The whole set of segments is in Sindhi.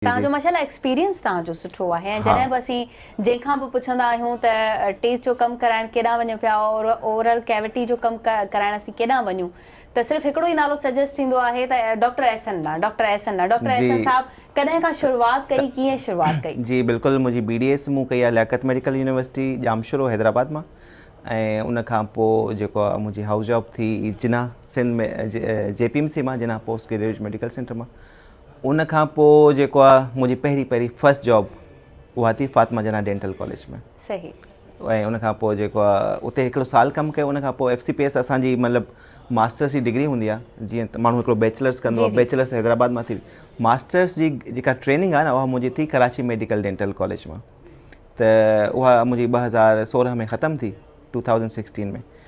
توهان جو ماشاءالله ايڪسپيرينس توهان جو سٺو آهي ۽ جڏهن به اسين جنهن کان به پڇندا آهيون ته ٽيٿ جو ڪم ڪرائڻ ڪيڏانهن وڃو پيا اور اورل ڪيوٽي جو ڪم ڪرائڻ اسين ڪيڏانهن وڃون ته صرف هڪڙو ئي نالو سجيسٽ ٿيندو آهي ته ڊاڪٽر احسن ڏانهن ڊاڪٽر احسن ڏانهن ڊاڪٽر احسن صاحب ڪڏهن کان شروعات ڪئي ڪيئن شروعات ڪئي. جي بلڪل منهنجي بي ڊي ايس مون ڪئي آهي لياقت ميڊيڪل يونيورسٽي ڄامشورو حيدرآباد مان ۽ ان کان پوء جيڪو آهي منهنجي هائوس جاب ٿي Jinnah Sindh ۾ J P M C مان Jinnah postgraduate medical centre مان ان کان پوء جيڪو آ منهنجي پهرين پهرين فرسٽ جاب اها ٿي فاطمه جناح ڊينٽل ڪاليج ۾ صحيح ۽ ان کان پوء جيڪو آ اتي هڪڙو سال ڪم ڪيو ان کان پوء ايف سي پي ايس اسان جي مطلب ماسٽرس جي ڊگري هوندي آ جيئن ماڻهو هڪڙو بيچلرس ڪندو آ بيچلرس حيدرآباد مان ٿي ماسٽرس جي جيڪا ٽريننگ آ نه اها منهنجي ٿي ڪراچي ميڊيڪل ڊينٽل ڪاليج مان ته اها منهنجي ٻه هزار سورهن ۾ ختم ٿي ٽو ٿائوزنڊ سڪسٽين ۾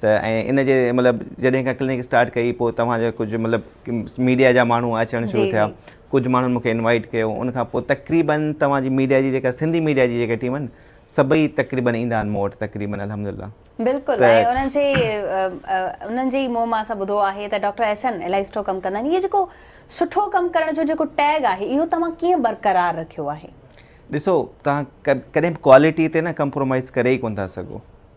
ته ۽ ان جي مطلب جڏهن کان ڪلينڪ اسٽارٽ ڪئي پوء توهان جو ڪجهه مطلب ميڊيا جا ماڻهو اچڻ شروع ٿيا ڪجهه ماڻهن مونکي انوائيٽ ڪيو ان کان پوء تقريبن توهان جي ميڊيا جي جيڪا سنڌي ميڊيا جي جيڪا ٽيم آهن سڀئي تقريبن ايندا آهن مون وٽ تقريبن الحمدلله بلڪل ۽ انهن جي انهن جي منهن مان اسان ٻڌو آهي ته ڊاڪٽر احسن الائي سٺو ڪم ڪندا آهن اهي جيڪو سٺو ڪم ڪرڻ جو جيڪو ٽيگ آهي اهو توهان ڪيئن برقرار رکيو آهي ڏسو توهان ڪڏهن به ڪوالٽي تي نه ڪمپرومائيز ڪري ئي ڪونه ٿا سگهو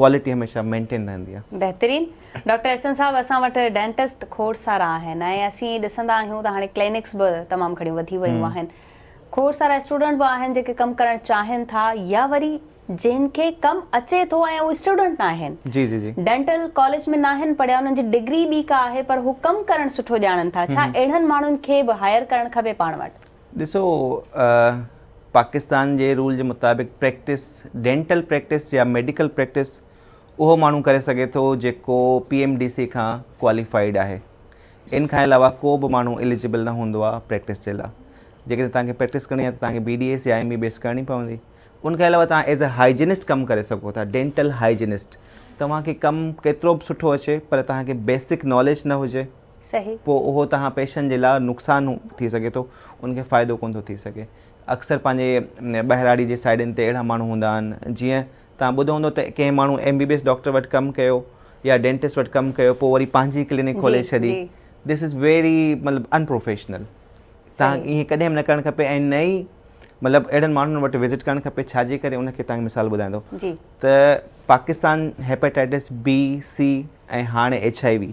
ڪوالٽي هميشه مينٽين رهندي آهي. بهترين ڊاڪٽر احسن صاحب اسان وٽ ڊينٽسٽ کوڙ سارا آهن ۽ اسين ڏسندا آهيون ته هاڻي ڪلينڪس به تمام گهڻيون وڌي ويون آهن کوڙ سارا اسٽوڊنٽ به آهن جيڪي ڪم ڪرڻ چاهين ٿا يا وري جن کي ڪم اچي ٿو ۽ اهي اسٽوڊنٽ ناهن ڊينٽل ڪاليج ۾ ناهن پڙهيا انهن جي ڊگري ٻي ڪا آهي پر هو ڪم ڪرڻ سٺو ڄاڻن ٿا ڇا اهڙن ماڻهن کي به هائر ڪرڻ کپي پاڻ وٽ؟ ڏسو پاڪستان جي رول جي مطابق پريڪٽس ڊينٽل پريڪٽس يا ميڊيڪل پريڪٽس اهو ماڻهو ڪري سگهي ٿو جيڪو پي ايم ڊي سي کان ڪواليفائيڊ آهي ان کان علاوه ڪو به ماڻهو اليجبل نه هوندو آهي پريڪٽس جي لاء جيڪڏهن تنهن کي پريڪٽس ڪرڻي آهي ته تنهن کي بي ڊي ايس يا ايم بي بي ايس ڪرڻي پوندي ان کان علاوه تان ایز اے هائجنسٽ ڪم ڪري سگهو ٿا ڊينٽل هائجنسٽ توهان کي ڪم ڪيترو به سٺو اچي پر توهان کي بيسڪ ناليج نه هجي صحيح. پوء اهو توهان پيشن جي لاء نقصان ٿي سگهي ٿو ان کي فائدو ڪونه ٿو ٿي سگهي. اڪثر پنهنجي ٻهراڙي جي سائيڊن تي اهڙا ماڻهو هوندا آهن جيئن توهان ٻڌو هوندو ته ڪنهن ماڻهو M B B S doctor وٽ ڪم ڪيو يا ڊينٽسٽ وٽ ڪم ڪيو پوء وري پنهنجي ڪلينڪ جي کولي ڇڏي جي. دس از ويري مطلب ان پروفيشنل توهان صحيح. کي ائين ڪڏهن به نه ڪرڻ کپي ۽ نه ئي مطلب اهڙن ماڻهن وٽ وزٽ ڪرڻ کپي ڇا جي ڪري ان کي توهان کي مثال ٻڌايان ٿو جي. ته پاڪستان هيپاٽائيٽس بي سي ۽ هاڻي ايڇ آء وي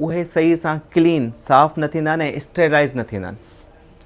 اهي صحيح سان ڪلين، صاف، نه ٿيندا ۽ اسٽيرلائيز نه ٿيندا آهن.